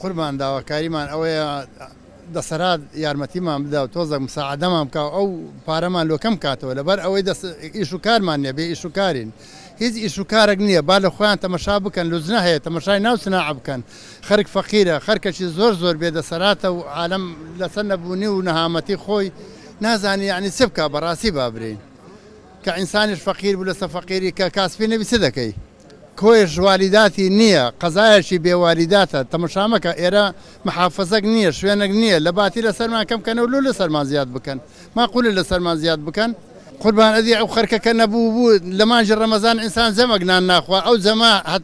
قوربان داواکاریمان ئەوەیە دەسەرات یارمەتیمان بدا و تۆزەک مساعدەمان بکە ئەو پارەمان لۆکەم کاتەوە لەبەر ئەوەی دەست ئیش و کارمان نیە بێ ئیش و کارین هیچ ئیش و کارێک نییە با لە خۆیان تەمەشا بکەن لوجنە هەیە تەمەشای ناو سناع بکەن خەرک فەقیرە، خەرکەکی زۆر زۆر بێ دەسەراتە و عالەم لەسەر نەبوونی و نەهامەتی خۆی نازانی یەعنی چ بکا بەڕاستی با برێین کە ئینسانیش فەقیر بوو لەسە فەقیری کە کاسپی نەبی چ دەکەی کۆیش والیداتی نیە قەزایەکی بێ والیداتە تەمەشا مەکە ئێرە محافزەک نیە شوێنەک نیە لە باتی لەسەرمان کەم کەنە و لۆ لەسەرمان زیاد بکەن ماقولە لەسەرمان زیاد بکەن. قوربان ئەدی ئەو خەرکە کە نەبوو بوو لە مانگی ڕەمەزان ئینسان جەمەک نان ناخوا ئەو جەمە هەت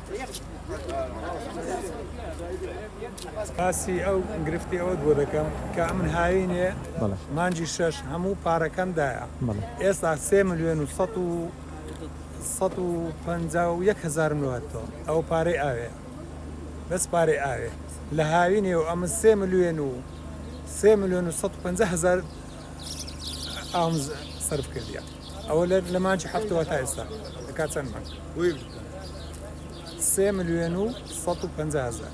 باسی ئەو گرفتی ئەوەت بۆ دەکەم کە من هاوینێ مانجی شەش هەموو پارەکەم دایە ئێستا سێ ملیۆن و سە و سە و پ و یەک هزار ملوهتەوە ئەو پارەی ئاوێ بەس پارەی ئاوێ لە هاوینێ و ئەمە سێ ملیۆن و سێ ملیۆن و سە هزار ئاوم سرف کردیە ئەوە لە مانچی هەفتەوە تا ئێستا دەکا چەند مانگ سێ ملیۆن و 150 هزار